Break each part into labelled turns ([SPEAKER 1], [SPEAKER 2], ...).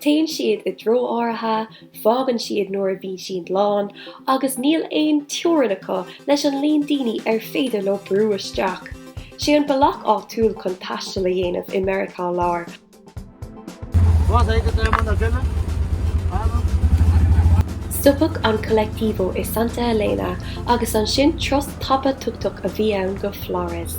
[SPEAKER 1] Téann siad i dtreo áirithe, fágann siad nuair a bhíonn siad lán, agus níl aon teorainn acu leis an líon daoine ar féidir leo brú isteach. 'Sé an bealach áitiúil chun taisteal a dhéanamh i Meiriceá Láir. Stop an Colectivo i Santa Elena agus ansin turas tapa tuk-tuk a bhí ann go Flores.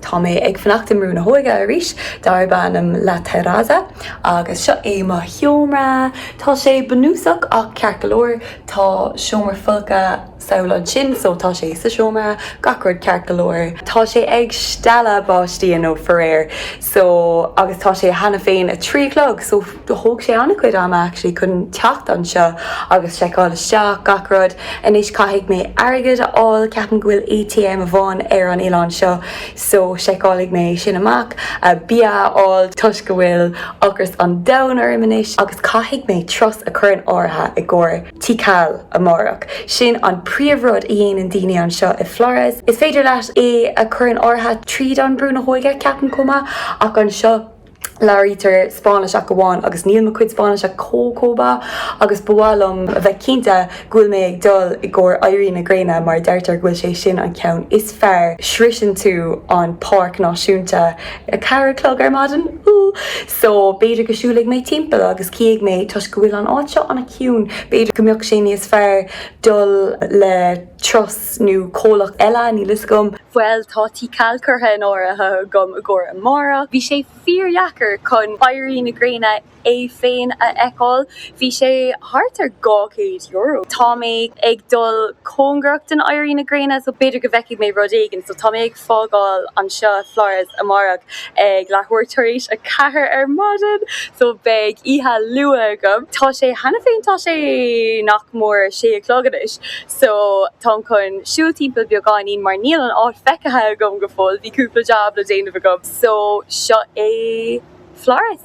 [SPEAKER 2] Tá mé ag fanacht i mBrú na hÓige arís darb ainm La Terraza agus seo é mo sheomra. Tá sé bunúsach ach ceart go leor. Tá seomra folctha sall ansin so tá sé sa seomra, gach rud ceart go leor. Tá sé ag stealladh báistí inniu faraor so agus tá sé cheana féin a trí a chlog so. Thóg sé an-chuid ama actually chun teacht anseo agus seiceáil isteach, gach rud. Anois caithfidh mé airgead a fháil, ceapaim go bhfuil ATM amháin ar an oileán seo so seiceálfaidh mé sin amach. Bia a fháil toisc go bhfuil ocras an domhain orm anois agus caithfidh mé turas a chur in áirithe i gcomhair Tikal amárach. Sin an príomhrud a dhéanann daoine anseo i Flores. Is féidir leat é a chur in áirithe tríd an Brú na hÓige ceapaim chomh maith ach anseo, Labhraítear Spáinnis amháin agus níl mo chuid Spáinnise chomh chomh maith agus ba mhaith liom a bheith cinnte go bhfuil mé ag dul i gcomhair éirí na gréine mar deirtear go bhfuil sé sin an ceann is fearr sroiseann tú an páirc náisiúnta a ceathair a chlog ar maidin so b'fhéidir go siúlfaidh mé timpeall agus cífidh mé toisc go bhfuil an áit seo an-chiúin b'fhéidir go mbeadh sé níos fearr dul le turas nó comhlacht eile, níl fhios agam. Bhuel, tá Tikal curtha in áirithe agam i gcomhair amárach. Bhí sé fíordheacair chun éirí na gréine é féin a fheiceáil. Bhí sé thart ar dhá chéad euro. Tá mé ag dul cóngarach don éirí na gréine so b'fhéidir go bhfeicfidh mé rud éigin. So tá mé ag. fágáil anseo Flores amárach ag leathuair tar éis a ceathair ar maidin, so beidh oíche luath agam. Tá sé, cheana féin, tá sé nach mór a sé a chlog anois, so táim chun siúl timpeall beagáinín mar níl an áit feicthe agam go fóill, bhí cúpla jab le déanamh agam, so seo é Flores.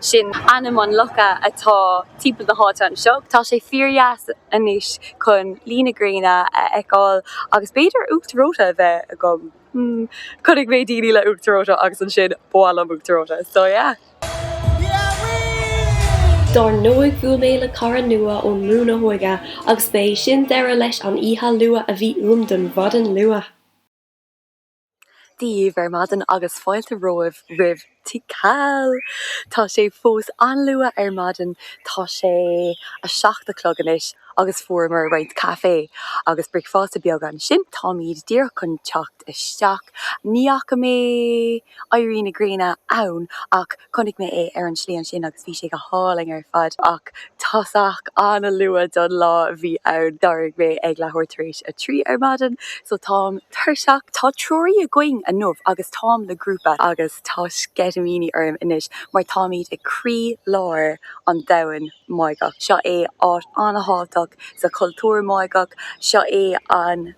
[SPEAKER 2] Sin ainm an locha atá timpeall na háite anseo. Tá sé fíordheas anois chun luí na gréine a fheiceáil agus b'fhéidir uachtar reoite a bheith agam. Hmm. Chonaic mé daoine le uachtar reoite agus ansin ba mhaith liom uachtar reoite. So
[SPEAKER 1] yeah. Dar ndóigh bhuail mé le cara nua ón mBrú na hÓige agus ba é sin deireadh leis an oíche luath a bhí uaim don mhaidin luath.
[SPEAKER 2] díobh ar maidin agus fáilte romhaibh roimh Tikal! Tá sé fós an-luath ar maidin, tá sé a seacht a chlog anois agus fuaireamar roinnt caife agus bricfeasta beag ansin. Táimid díreach chun teacht isteach. Ní fhaca mé éirí na gréine ann ach Chonaic mé é ar an slí ansin agus bhí sé go hálainn ar fad ach tosach an-luath don lá a bhí ann. D'éirigh mé ag leathuair tar éis a trí ar maidin so táim tuirseach. Tá treoraí againn inniu agus táim le grúpa agus tá sceitimíní orm anois mar táimid i gcroílár an domhain Máigheach. Seo é áit an-thábhachtach sa chultúr Máigheach. Seo é an.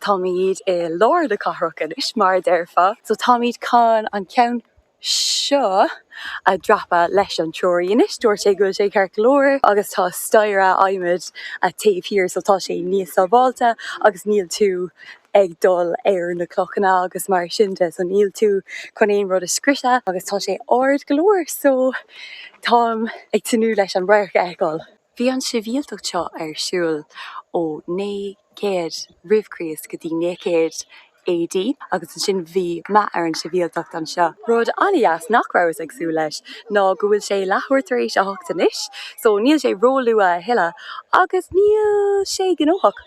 [SPEAKER 2] Táimid i lár na cathrach anois, mar a déarfá, so táimid chun an ceann seo a dhreapadh leis an treoraí anois. Dúirt sé go bhfuil sé ceart go leor agus tá staighre adhmaid taobh thiar so tá sé níos sábháilte agus níl tú ag dul ar na clochanna agus mar sin de so níl tú chun aon rud a scriosadh agus tá sé ard go leor so táim ag tnúth leis an radharc a fheiceáil. Bhí an sibhialtacht seo ar siúl ó 900 roimh Chríost go dtí 900 AD agus ansin bhí meath ar an sibhialtacht anseo. Rud an-deas nach rabhas ag súil leis ná go bhfuil sé leathuair tar éis a hocht anois, so níl sé ró-luath a thuilleadh agus níl sé gnóthach.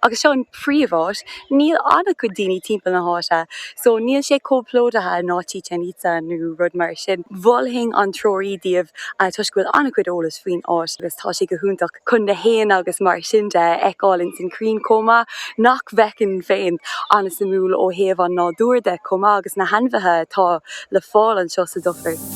[SPEAKER 2] agus seo an príomh-áit, níl an-chuid daoine timpeall na háite, so níl sé chomh plódaithe ná Chichen Itza nó rud mar sin. Mholfainn an treoraí daoibh toisc go bhfuil an-chuid eolas faoin áit agus tá sé go hiontach chun na héin agus mar sin de a fheiceáil ins na crainn chomh maith, nach bhfeicinn féin, an-shuimiúil ó thaobh an nádúir de chomh maith agus na hainmhithe atá le fáil anseo sa dufair.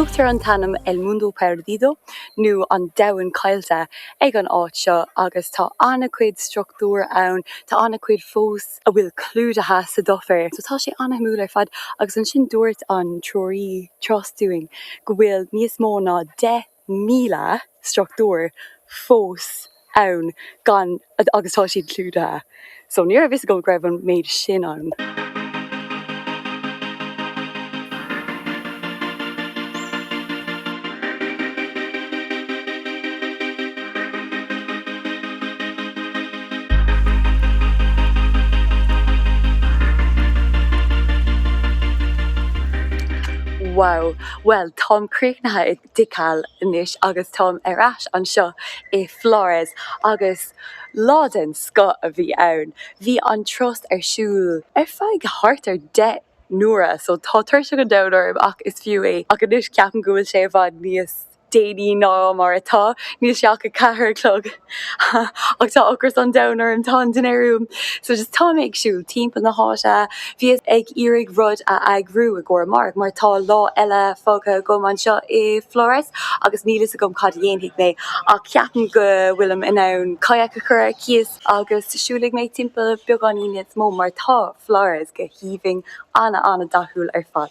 [SPEAKER 2] Tugtar an t-ainm El Mundo Perdido, nó An Domhan Caillte, ag an áit seo agus tá an-chuid struchtúr ann, tá an-chuid fós a bhfuil clúdaithe sa dufair. So tá sé an-shuimiúil ar fad agus ansin dúirt an treoraí turas dúinn go bhfuil níos mó ná deich míle struchtúr fós ann gan agus tá siad clúdaithe so ní raibh fhios agam go raibh an méid sin ann. Wow, bhuel táim críochnaithe i. dTikal anois agus táim ar ais anseo i Flores agus lá den scoth a bhí ann. Bhí an turas ar siúl ar feadh thart ar deich n-uaire so tá tuirse an domhain orm ach is fiú é ach anois ceapaim go bhfuil sé i bhfad níos déanaí ná mar atá, níl sé ach a ceathair a chlog. Ach tá ocras an domhain orm, tá an dinnéar uaim, so just tá mé ag siúl timpeall na háite, bhíos ag iarraidh rud a eagrú i gcomhair amárach mar tá lá eile fágtha agam anseo i Flores agus níl fhios agam cad a dhéanfaidh mé ach ceapaim go bhfuilim in ann kayak a chur ar cíos agus siúlfaidh mé timpeall beagáinín níos mó mar tá Flores go haoibhinn, ana ana dathúil ar fad.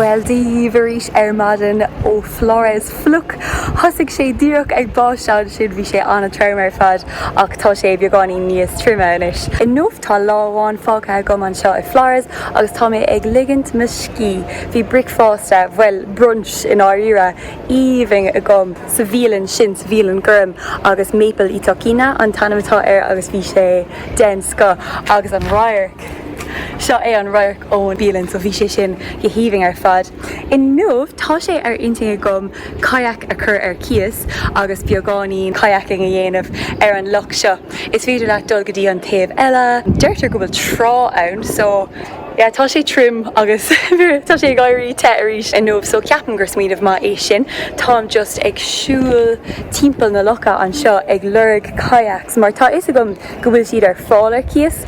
[SPEAKER 2] Bhuel, Dia dhaoibh arís ar maidin ó Flores fliuch, thosaigh sé díreach ag báisteach ansin, bhí sé an-trom ar fad ach tá sé beagáinín níos tirime anois. Tá lá amháin fágtha agam anseo i Flores agus tá mé ag ligint mo scíth. Bhí bricfeasta, bhuel, brunch i ndáiríre, aoibhinn agam sa bhialann sin, sa bhialann gorm, agus Maple y Tocino an t-ainm atá air agus bhí sé den scoth. Agus an radharc! Seo é an radharc ón mbialann so bhí sé sin go haoibhinn ar fad. Inniu tá sé ar intinn agam kayak a chur ar cíos agus beagáinín kayaking a dhéanamh ar an loch seo. Is féidir leat dul go dtí an taobh eile. Deirtear go bhfuil trá ann so yeah tá sé tirim agus tá sé ag éirí te arís inniu so ceapaim gur smaoineamh maith é sin. Táim just ag siúl timpeall na locha anseo ag lorg kayaks mar tá fhios agam go bhfuil siad ar fáil ar cíos,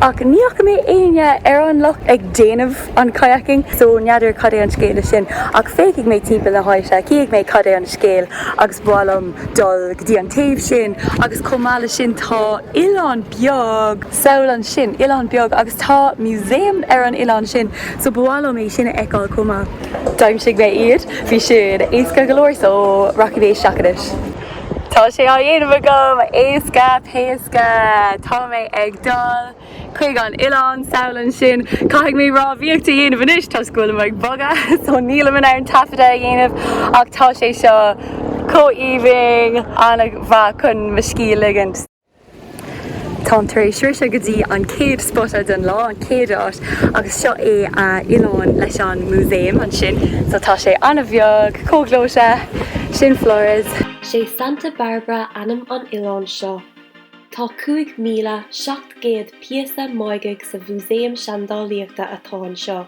[SPEAKER 2] ach ní fhaca mé éinne ar an loch ag déanamh an kayaking, so n'fheadar cad é an scéal leis sin. Ach féachfaidh mé timpeall na háite, cífidh mé cad é an scéal agus ba mhaith liom dul go dtí an taobh sin. Agus chomh maith leis sin tá oileán beag sall ansin, oileán beag, agus tá museum ar an oileán sin, so ba mhaith liom é sin a fheiceáil chomh maith. D'aimsigh mé iad, bhí siad éasca go leor so rachaidh mé isteach anois. Tá sé á dhéanamh agam! Éasca péasca! Tá mé ag dul chuig an oileán sall ansin. Caithfidh mé rámhaíocht a dhéanamh anois toisc go bhfuilim ag bogadh so nílim in ann taifeadadh a dhéanamh ach tá sé seo chomh aoibhinn, an-mhaith chun mo scíth a ligint. Táim tar éis sroicheadh go dtí an chéad spota den lá, an chéad áit, agus seo é a oileán leis an músaem ansin. So tá sé an-bheag, chomh gleoite, sin Flores. Sé
[SPEAKER 1] Santa Barbara ainm an oileáin seo. Tá 5,700 píosa Máigheach sa mhúsaem seandálaíochta atá anseo.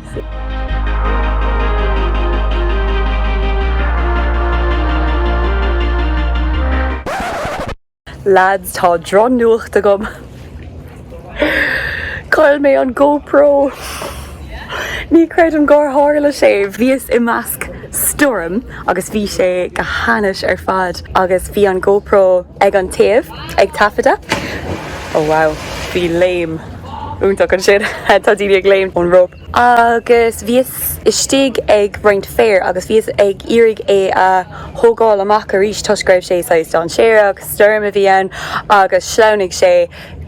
[SPEAKER 2] Lads tá droch nuacht agam. Chaill mé an GoPro. Ní creidim gur tharla sé. Bhíos i measc stoirm agus bhí sé go hainnis ar fad agus bhí an GoPro ag an taobh ag taifeadadh. Oh wow bhí léim iontach ansin. Tá daoine ag léim ón rope. Agus bhíos istigh ag roinnt féir agus bhíos ag iarraidh é a thógáil amach arís toisc go raibh sé saghas dainséarach agus stoirm a bhí ann agus shleamhnaigh sé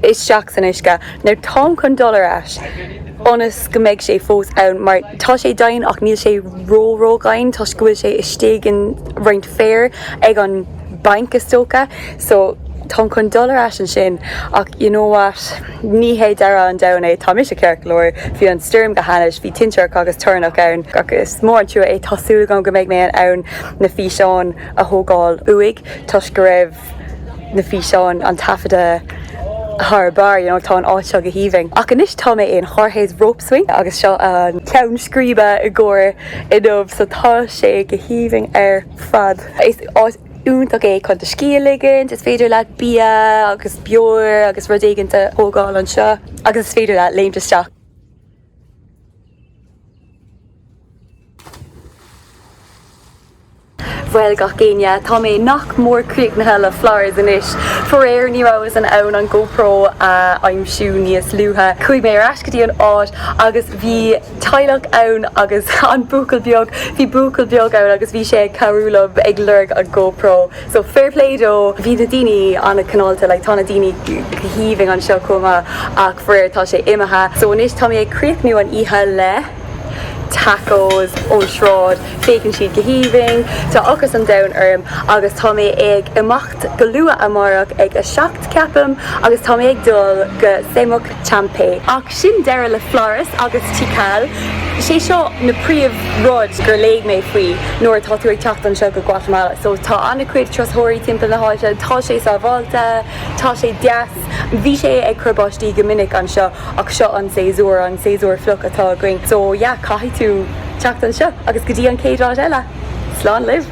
[SPEAKER 2] isteach san uisce. Now táim chun dul ar ais i ndóchas go mbeidh sé fós ann mar tá sé domhain ach níl sé ró-ró-dhomhain toisc go bhfuil sé istigh in roinnt féir ag an bank is dócha so táim chun dul ar ais ansin ach you know what ní hé deireadh an domhain é tá mise ceart go leor bhí an stoirm go hainnis bhí tintreach agus toirneach ann ach is mór an trua é tá súil agam go mbeidh mé in ann na físeáin a thógáil uaidh toisc go raibh na físeáin an taifeadadh thar barr you know tá an áit seo go haoibhinn ach anois tá mé in Jorge's rope swing agus seo an ceann scríbe i gcomhar inniu so tá sé go haoibhinn ar fad. Is áit iontach é chun do scíth a ligint, is féidir leat bia agus beoir agus rud éigint a thógáil anseo agus is féidir leat léimt isteach. Bhuel gach éinne, tá mé nach mór críochnaithe le Flores anois. Faraor ní rabhas in ann an GoPro a aimsiú níos luaithe. Chuaigh mé ar ais go dtí an áit agus bhí. teaghlach ann agus an buachaill beag, bhí buachaill beag ann agus bhí sé ag cabhrú liom ag lorg an GoPro so fair play dó. Bhí na daoine an-chineálta, like tá na daoine haoibhinn anseo chomh maith ach faraor tá sé imithe. So anois tá mé ag críochnú an oíche le tacos ón sráid, féachann siad go haoibhinn, tá ocras an domhain orm agus tá mé ag imeacht go luath amárach ag a seacht ceapaim agus tá mé ag dul go Semuc, Champey. Ach sin deireadh le Flores agus Tikal, sé seo na príomhrud gur léigh mé faoi nuair atá tú ag teacht anseo go Guatamala. So tá an-chuid turasóirí timpeall na háite, tá sé sábháilte, tá sé deas. Bhí sé ag cur báistí go minic anseo ach seo an séasúr, an séasúr fliuch atá againn. So yeah, caithfidh tú teacht anseo agus go dtí an chéad vlog eile, slán libh!